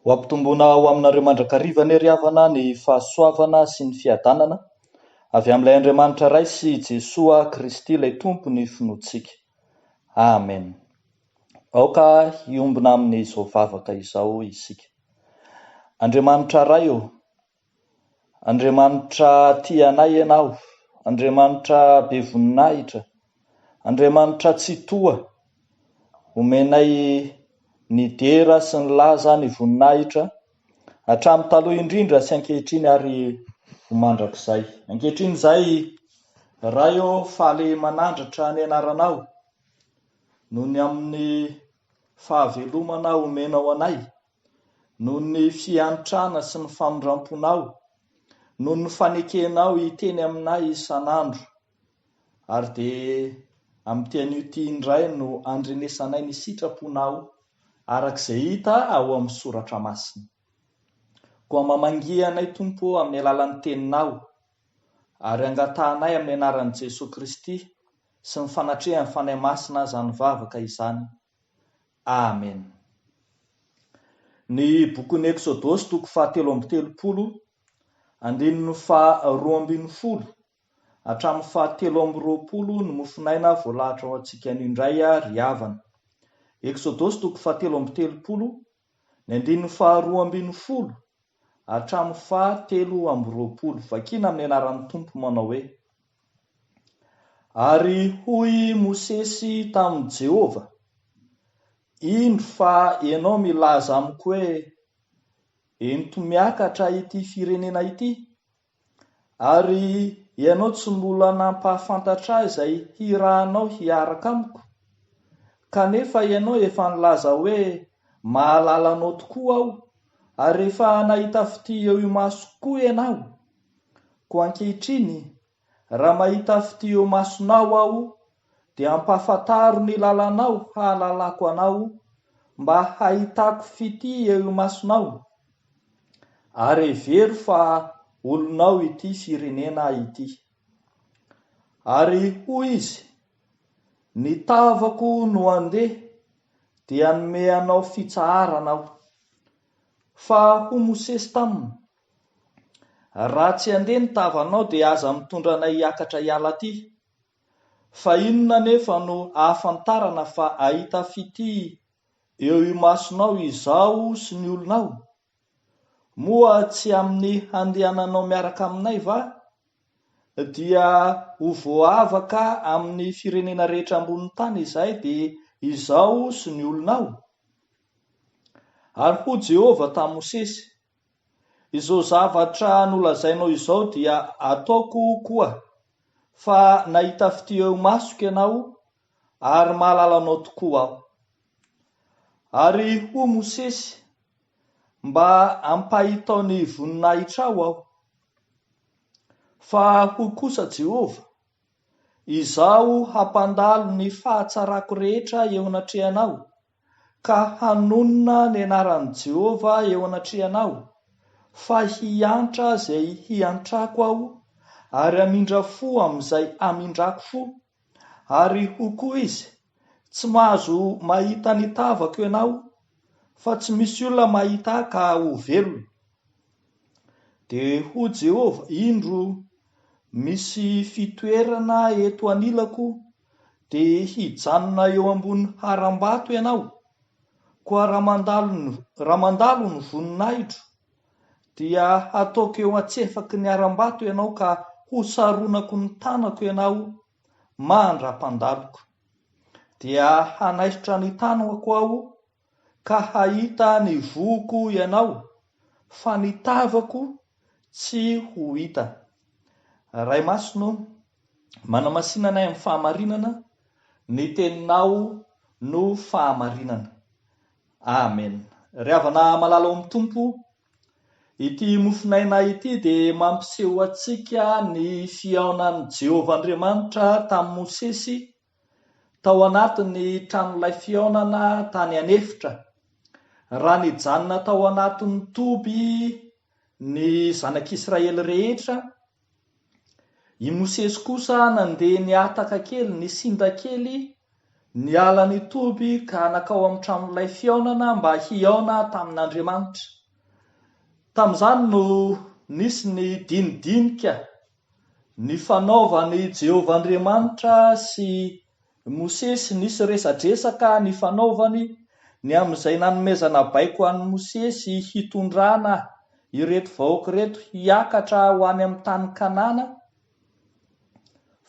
Ho ampitomboina ho aminareo mandrakariva anie ry havana ny fahasoavana sy ny fiadanana avy amin'ilay Andriamanitra Ray sy Jesoa Kristy ilay Tompo ny finoantsika. Amen. Aoka hiombona amin'izao vavaka izao isika. Andriamanitra Ray ô, Andriamanitra tia anay Ianao, Andriamanitra be voninahitra, Andriamanitra Tsitoha, omenay ny dera sy ny laza, ny voninahitra, hatramin'ny taloha indrindra sy ankehitriny ary ho mandrakizay. Ankehitriny izay, Ray ô, faly manandratra ny Anaranao, noho ny amin'ny fahavelomana omenao anay, Noho ny fiantrana sy ny famindramponao, noho ny fanekenao hiteny aminay isan'andro, ary dia amin'ity anio ity indray no andrenesanay ny sitraponao araka izay hita ao amin'ny soratra masina. Koa mamangia anay Tompo ô amin'ny alalan'ny teninao, ary angatahanay amin'ny anaran'i Jesoa Kristy sy ny fanatrehan'ny Fanahy Masina izany vavaka izany. Amen. Ny bokin'ny Eksodosy toko faha telo amby telopolo, andininy faha roa ambin'ny folo hatramin'ny faha telo amby roapolo ny mofonaina voalahatra ho antsika indray ry havana. Eksodosy toko faha telo amby telopolo Ny andininy faharoa ambin'ny folo hatramin'ny fahatelo amby roapolo, vakina amin'ny anaran'ny Tompo manao hoe, Ary hoy Mosesy tamin'i Jehovah, Indro fa ianao milaza amiko hoe, Ento miakatra ity firenena ity, Ary ianao tsy mbola nampahafantatra ahy izay hirahanao hiaraka amiko? Kanefa ianao efa nilaza hoe, 'Mahalala anao tokoa aho, ary efa nahita fitia eo imasoko koa ianao. Koa ankehitriny, raha mahita fitia eo imasonao aho, dia ampahafantaro ny lalanao hahalalako anao mba hahitako fitia eo imasonao ary hevero fa olonao ity firenena ity. Ary hoy izy, Ny tavako no handeha dia hanome anao fitsaharana aho. Fa hoy Mosesy taminy, Raha tsy handeha ny tavanao dia aza mitondra anay hiakatra hiala aty. Fa inona anefa no ahafantarana fa ahita fitia eo imasonao izaho sy ny olonao? Moa tsy amin'ny handehananao miaraka aminay va? Dia ho voavaka amin'ny firenena rehetra ambonin'ny tany izahay, dia izaho sy ny olonao? Ary hoy Jehovah tamin'i Mosesy, Izao zavatra nolazainao izao dia ataoko koa, fa nahita fitia eo imasoko ianao, ary mahalala anao tokoa aho. Ary hoy Mosesy, Mba ampahitao ny voninahitrao aho. Fa hoy kosa Jehovah, Izaho hampandalo ny fahatsarako rehetra eo anatrehanao, ka hanonona ny anaran'i Jehovah eo anatrehanao, fa hiantra izay hiantrako aho, ary hamindra fo amin'izay hamindrako fo. Ary hoy koa izy, Tsy mahazo mahita ny tavako ianao, fa tsy misy olona mahita ahy ka ho velona. Dia hoy Jehovah, Indro, misy fitoerana eto anilako, dia hijanona eo ambony harambato ianao, koa raha mandalo ny, raha mandalo ny voninahitro, dia hataoko eo an-tsefaky ny harambato ianao ka hosaronako ny tanako ianao mandra-pandaloko. Dia hanaisotra ny tanako aho ka hahita ny vohoko ianao, fa ny tavako tsy ho hita. Ray Masina ô, manamasina anay amin'ny fahamarinana, ny Teninao no fahamarinana. Amen. Ry havana malala ao amin'ny Tompo, ity mofon'aina ity dia mampiseho antsika ny fihaonan'i Jehovah Andriamanitra tamin'i Mosesy, tao anatin'ny tranolay fihaonana tany an'efitra, raha nijanona tao anatin'ny toby ny zanak'Israely rehetra, i Mosesy kosa nandeha nihataka kely, nisinda kely, niala ny toby ka nankao amin'ny tranolay fihaonana mba hihaona tamin'Andriamanitra. Tamin'izany no nisy ny dinidinika. Ny fanaovan' i Jehovah Andriamanitra sy i Mosesy Nisy resadresaka nifanaovany ny amin' izay nanomezana baiko an' i Mosesy hitondrana ireto vahoaka ireto hiakatra ho any amin' ny tany Kanana,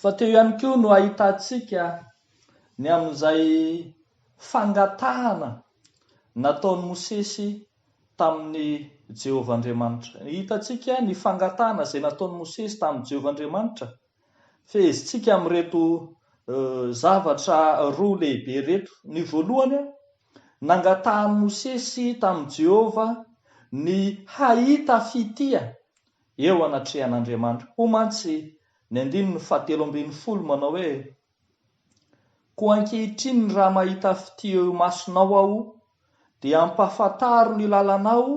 fa teo ihany koa no ahitantsika ny amin' izay fangatahana nataon' i Mosesy tamin'i Jehovah Andriamanitra. Hitantsika ny fangatahana izay nataon'i Mosesy tamin'i Jehovah Andriamanitra. Fehezintsika amin'ireto zavatra roa lehibe ireto. Ny voalohany, nangatahan'i Mosesy tamin'i Jehovah ny hahita fitia eo anatrehan'Andriamanitra. Hoy mantsy ny andininy fahatelo ambin'ny folo manao hoe, Koa ankehitriny raha mahita fitia eo imasonao aho, dia ampahafantaro ny lalanao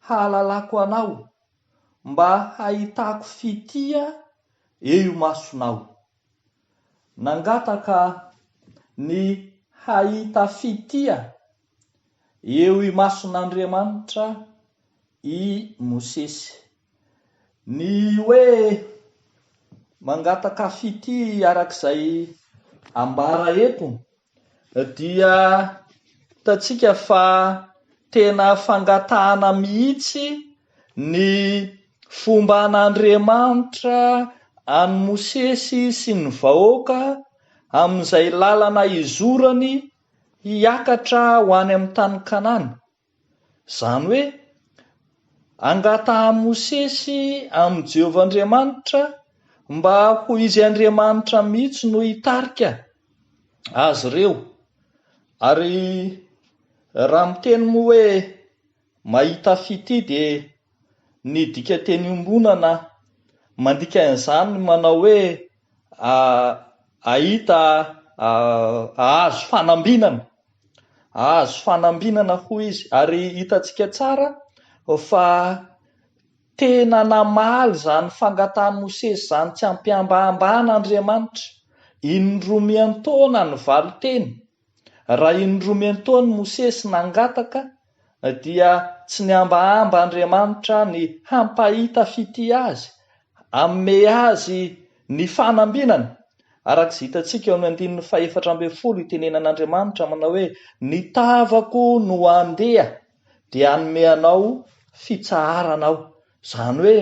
hahalalako anao, mba hahitako fitia eo imasonao. Nangataka ny hahita fitia eo imason'Andriamanitra i Mosesy. Ny hoe mangataka fitia araka izay ambara eto dia hitantsika fa tena fangatahana mihitsy ny fomba an'Andriamanitra an'i Mosesy sy ny vahoaka amin'izay lalana izorany hiakatra ho any amin'ny tany Kanana. Izany hoe, angatahan'i Mosesy amin'i Jehovah Andriamanitra mba ho izy Andriamanitra mihitsy no hitarika azy ireo. Ary raha miteny moa hoe mahita fitia dia ny dikan-teny iombonana mandika an'izany ny manao hoe Ahita, ahazo fanambinana, ahazo fanambinana hoy izy ary hitantsika tsara fa tena namaly izany fangatahan'i Mosesy izany tsy am-pihambahambana Andriamanitra, in-droa miantaona ny valin-teny Raha inromento an'i Mosesy nangataka dia tsy niambahamba Andriamanitra ny hampahita fitia azy, haome azy ny fanambinana. Araka izay hitantsika eo amin'ny andininy fahefatra ambin'ny folo, itenenan'Andriamanitra manao hoe, Ny tavako no handeha dia hanome anao fitsaharana aho. Izany hoe.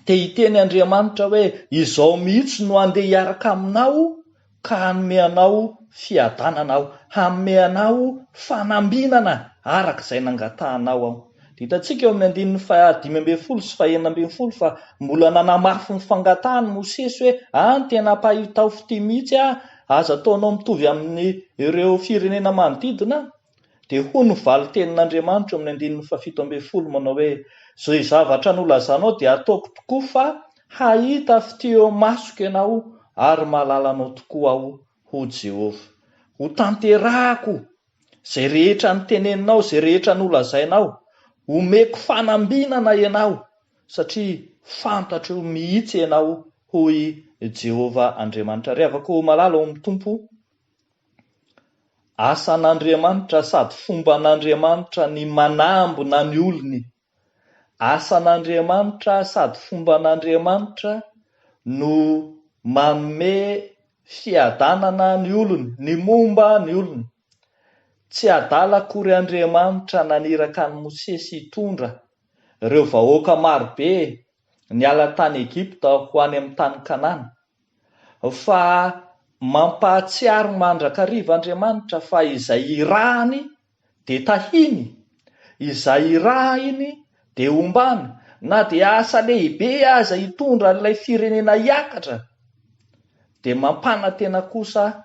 dia hiteny Andriamanitra hoe, Izao mihitsy no handeha hiaraka aminao ka hanome anao fiadanana Aho, hanome anao fanambinana araka izay nangatahanao Aho. Dia hitantsika eo amin'ny andininy fahadimy ambin'ny folo sy fahenina ambin'ny folo fa mbola nanamafy ny fangatahany Mosesy hoe, Any tena mpahitao fitia mihitsy Aho, aza ataonao mitovy amin'ireo firenena manodidina Aho. Dia hoy ny valin-tenin'Andriamanitra eo amin'ny andininy fahafito ambin'ny folo manao hoe, Izay zavatra nolazanao dia ataoko tokoa fa hahita fitia eo amasoko ianao ary mahalala anao tokoa aho, hoy Jehovah. Hotanterahako izay rehetra noteneninao, izay rehetra nolazainao. Homeko fanambinana ianao, satria fantatro mihitsy ianao, hoy Jehovah Andriamanitra. Ry havako malala ao amin'ny Tompo, Asan'Andriamanitra sady fomban'Andriamanitra ny manambina ny olony. Asan'Andriamanitra sady fomban'Andriamanitra no manome fiadanana ny olony, ny momba ny olony. Tsy adala akory Andriamanitra naniraka an'i Mosesy hitondra ireo vahoaka marobe niala tany Egypta ho any amin'ny tany Kanana. fa mampahatsiaro mandrakariva Andriamanitra fa izay irahany dia tahiny, izay irahiny dia ombàny, na dia asa lehibe aza hitondra an'ilay firenena hiakatra dia mampanantena kosa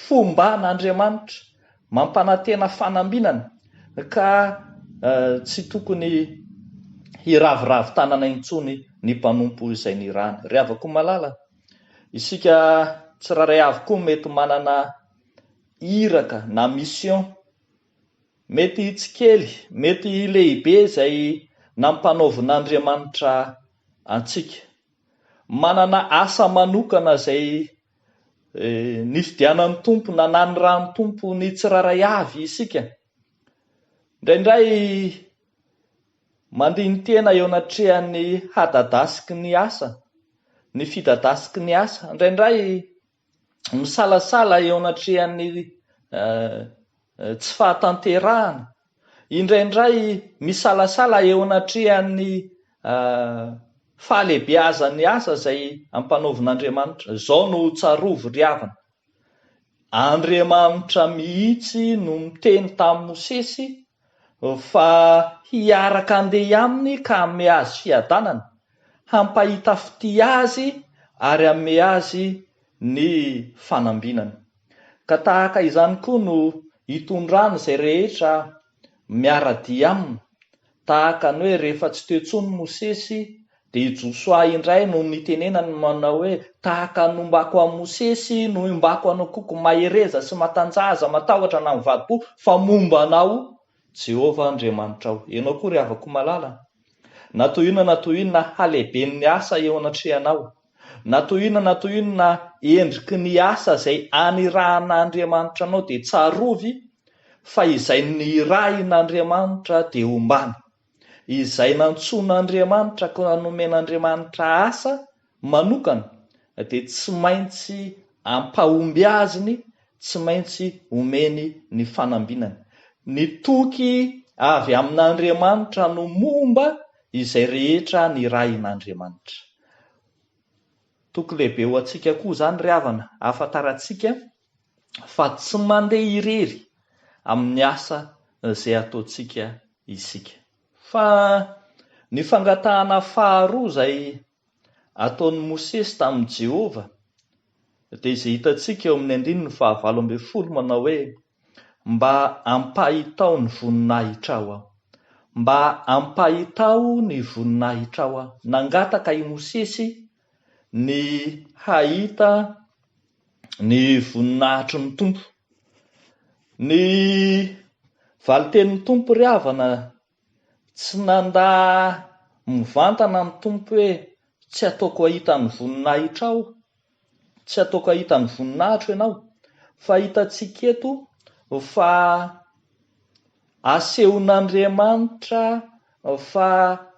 fomban'Andriamanitra, mampanantena fanambinana, ka tsy tokony hiraviravy tanana intsony ny mpanompo izay nirany. Ry havako malala, isika tsirairay avy koa mety manana iraka na mission, mety tsy kely, mety lehibe izay nampanaovin'Andriamanitra antsika. manana asa manokana izay nifidianan'ny Tompo na nanirahan'ny Tompo ny tsirairay avy isika. Indraindray mandini-tena eo anatrehan'ny hadadasiky ny asa, ny fidadasiky ny asa. Indraindray. misalasala eo anatrehan'ny tsy fahatanterahana, indraindray misalasala eo anatrehan'ny fahalehibeazan'ny asa izay ampanaovin'Andriamanitra. Izao no tsarovy ry havana, Andriamanitra mihitsy no niteny tamin'i Mosesy Fa hiaraka handeha aminy ka hanome azy fiadanana, hampahita fitia azy ary hanome azy ny fanambinana. Ka tahaka izany koa no itondrany izay rehetra miara-dia aminy, tahaka ny hoe rehefa tsy teo intsony Mosesy Dia i Josoa indray no nitenenany manao hoe, Tahaka ny nombako an'i Mosesy no iombako anao koa, koa mahereza sy matanjaha, aza matahotra na ny vadiko, fa momba anao Jehovah Andriamanitrao. Ianao koa ry havako malala, na toy inona na toy inona halehiben'ny asa eo anatrehanao, na toy inona na toy inona endriky ny asa izay anirahan'Andriamanitra anao, dia tsarovy fa izay nirahin'Andriamanitra dia ombana. Izay nantsoin'Andriamanitra ka nomen'Andriamanitra asa manokana dia tsy maintsy ampahomby azy ny tsy maintsy omeny ny fanambinany. Ny toky avy amin'Andriamanitra no momba izay rehetra nirahin'Andriamanitra. Toky lehibe ho antsika koa izany ry havana, ahafantarantsika fa tsy mandeha irery amin'ny asa izay ataontsika isika. Fa ny fangatahana faharoa izay ataon'i Mosesy tamin'i Jehovah dia izay hitantsika eo amin'ny andininy fahavalo ambin'ny folo manao hoe, Mba ampahitao ny voninahitrao aho. Mba ampahitao ny voninahitrao aho. Nangataka i Mosesy ny hahita ny voninahitry ny Tompo. Ny valin-tenin'ny Tompo ry havana, tsy nandà mivantana ny Tompo hoe tsy ataoko hahita ny voninahitra Aho, tsy ataoko hahita ny voninahitro ianao, fa hitantsika eto fa. Asehon'Andriamanitra fa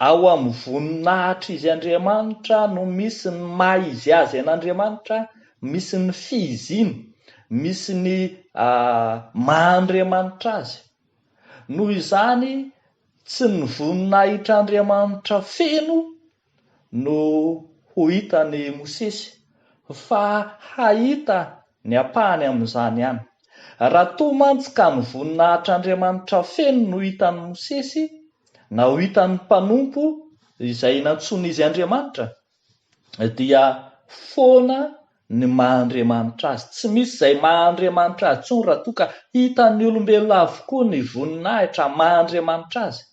ao amin'ny voninahitr'izy Andriamanitra no misy ny maha izy azy an'Andriamanitra, misy ny fihiziny, misy ny maha Andriamanitra azy. Noho izany, tsy ny voninahitr'Andriamanitra feno no ho hitan'i Mosesy, fa hahita ny ampahany amin'izany ihany. Raha toa mantsy ka ny voninahitr'Andriamanitra feno no hitan'i Mosesy, na ho hitan'ny mpanompo izay nantsoin'izy Andriamanitra, dia foana ny maha Andriamanitra azy. Tsy misy izay maha Andriamanitra azy intsony raha toa ka hitan'ny olombelona avokoa ny voninahitra maha Andriamanitra azy.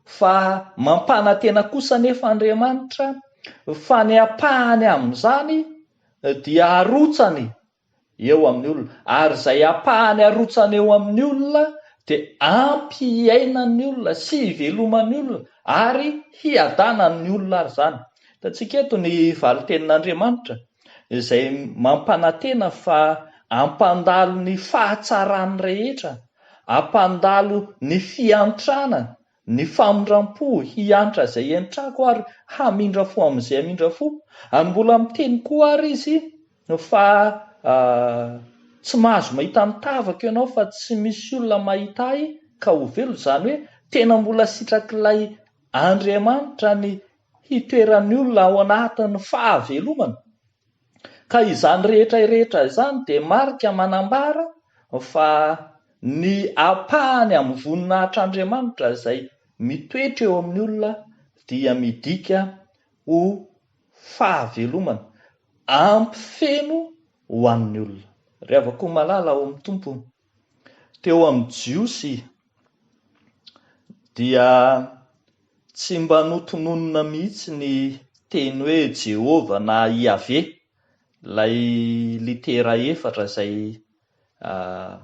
Fa mampanantena kosa anefa Andriamanitra fa ny ampahany amin'izany dia arotsany eo amin'ny olona, ary izay ampahany arotsany eo amin'ny olona dia ampy hiainan'ny olona sy hiveloman'ny olona ary hiadanan'ny olona ary izany. Hitantsika eto ny valin-tenin'Andriamanitra izay mampanantena fa hampandalo ny fahatsarany rehetra, hampandalo ny fiantrana, ny famindram-po, hiantra izay entrako ary hamindra fo amin'izay hamindra fo. Ary mbola miteny koa àry izy fa tsy mahazo mahita ny tavako ianao fa tsy misy olona mahita ahy ka ho velona, izany hoe tena mbola sitrak'ilay Andriamanitra ny hitoeran'ny olona ao anatin'ny fahavelomana, ka izany rehetra rehetra izany dia marika manambara fa ny ampahany amin'ny voninahitr'Andriamanitra izay mitoetra eo amin'ny olona dia midika ho fahavelomana ampy feno ho an'ny olona. Ry havako malala ao amin'ny Tompo, teo amin'ny Jiosy dia tsy mba notononina mihitsy ny teny hoe Jehovah na Iaveh, ilay litera efatra izay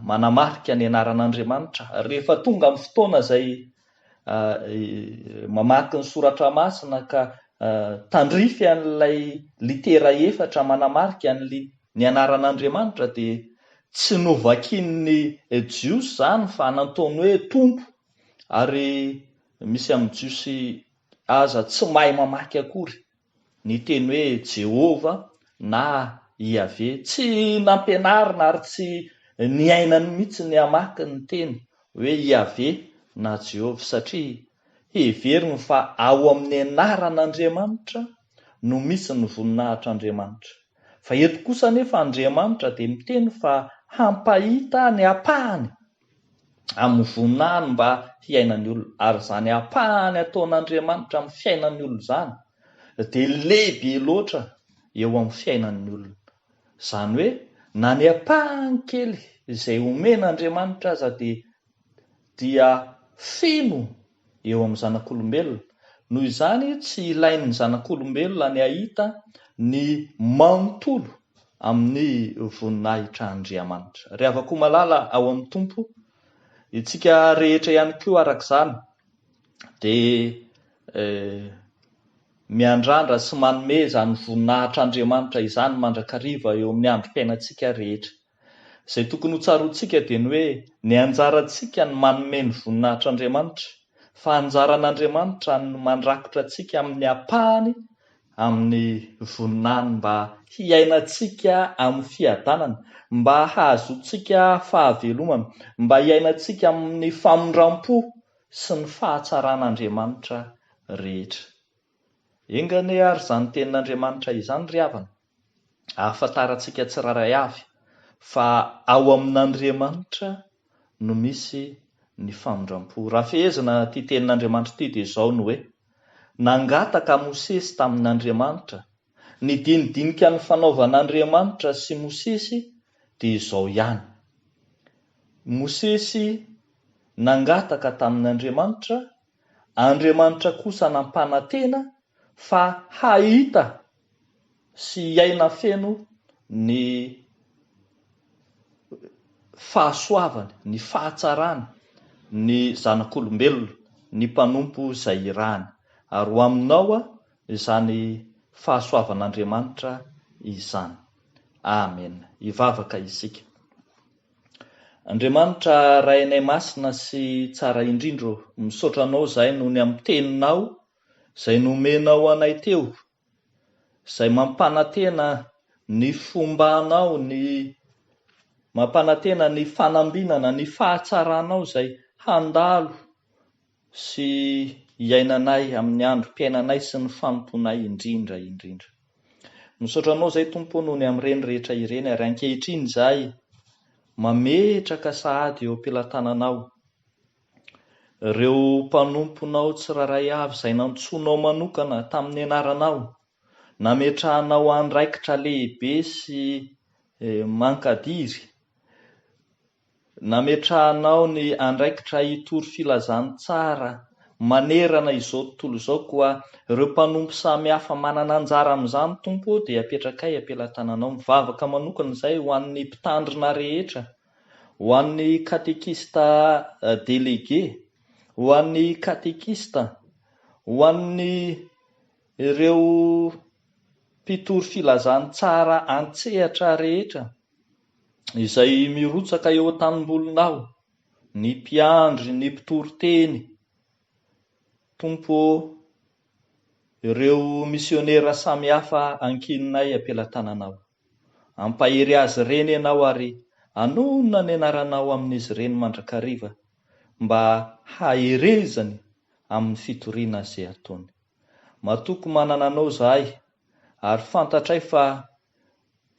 manamarika ny anaran'Andriamanitra. Rehefa tonga amin'ny fotoana izay Mamaky ny Soratra Masina ka tandrify an'ilay litera efatra manamarika ny anaran'Andriamanitra dia tsy novakian'ny Jiosy izany fa nataony hoe Tompo ary misy amin'ny Jiosy aza tsy mahay mamaky akory Ny teny hoe Jehovah na Iaveh. Tsy nampianarina ary tsy niainany mihitsy ny hamaky ny teny hoe Iaveh na Jehovah, satria heveriny fa ao amin'ny anaran'Andriamanitra no misy ny voninahitr'Andriamanitra. Fa eto kosa anefa Andriamanitra dia miteny fa hampahita ny ampahany amin'ny voninahiny mba hiainan'ny olona, ary izany ampahany ataon'Andriamanitra amin'ny fiainan'ny olona izany dia lehibe loatra eo amin'ny fiainan'ny olona. Izany hoe na ny ampahany kely izay omen'Andriamanitra aza dia dia feno eo amin'ny zanak'olombelona. Noho izany, tsy ilain'ny zanak'olombelona ny hahita ny manontolo amin'ny voninahitr' Andriamanitra. Ry havako malala ao amin'ny Tompo, itsika rehetra ihany koa araka izany dia miandrandra sy manome izany voninahitr'Andriamanitra izany mandrakariva eo amin'ny androm-piainantsika rehetra. Izay tokony hotsaroantsika dia ny hoe ny anjarantsika ny manome ny voninahitr'Andriamanitra, fa anjaran'Andriamanitra ny mandrakotra antsika amin'ny ampahany amin'ny voninahiny mba hiainantsika amin'ny fiadanana, mba hahazoantsika fahavelomana, mba hiainantsika amin'ny famindram-po sy ny fahatsaran'Andriamanitra rehetra. Enga anie ary izany tenin'Andriamanitra izany ry havana! ahafantarantsika tsirairay avy fa ao amin'Andriamanitra no misy ny famindram-po. Raha fehezina ity tenin'Andriamanitra ity dia izao ny hoe, Nangataka Mosesy tamin'Andriamanitra, ny dinidinika nifanaovan'Andriamanitra sy Mosesy dia izao ihany. Mosesy nangataka tamin'Andriamanitra Andriamanitra kosa nampanantena fa hahita sy hiaina feno ny fahasoavany, ny fahatsarany ny zanak'olombelona, ny mpanompo izay irahany. Ary ho aminao izany fahasoavan'Andriamanitra izany. Amena. Hivavaka isika. Andriamanitra Rainay Masina sy Tsara indrindra ô, misaotra Anao zahay noho ny amin'ny Teninao izay nomenao anay teo, izay mampanantena ny fombanao, ny mampanantena ny fanambinana, ny fahatsaranao izay handalo, sy iainanay amin'ny androm-piainanay sy ny fanompoanay indrindra indrindra. Misaotra Anao izay Tompo o noho ny amin'ireny rehetra ireny ary ankehitriny izahay mametraka sahady eo am-pelatananao ireo mpanomponao tsirairay avy izay nantsoinao manokana tamin'ny anaranao nametrahanao andraikitra lehibe sy eh, mankadiry Nametrahanao ny andraikitra hitory filazantsara manerana izao tontolo izao, koa ireo mpanompo samy hafa manana anjara amin'izany, Tompo ô, dia apetrakay am-pelatananao. Mivavaka manokana izahay ho an'ny Mpitandrina rehetra, ho an'ny Katekista Delege, ho an'ny Katekista, ho an'ireo Mpitory filazantsara an-tsehatra rehetra, izay mirotsaka eo an-tanimbolona aho, ny mpiandry ny mpitory teny, Tompo ô, ireo misionera samihafa ankininay am-pelatananao. Ampahery azy ireny Ianao ary anona ny anaranao amin'izy ireny mandrakariva mba haherezany amin'ny fitoriana izay ataony. Matoky manana Anao izahay ary fantatray fa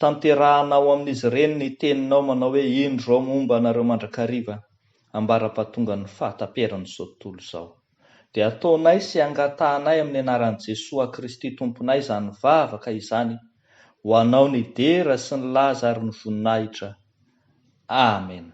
Tanterahana ao amin'izy ireny ny teninao manao hoe, Indro izao momba anareo mandrakariva, ambara-pahatongan'ny fahataperan'izao tontolo izao. Dia ataonay sy angatahanay amin'ny anaran'i Jesoa Kristy Tomponay izany vavaka izany ho anao ny dera sy ny laza ary ny voninahitra. Amena.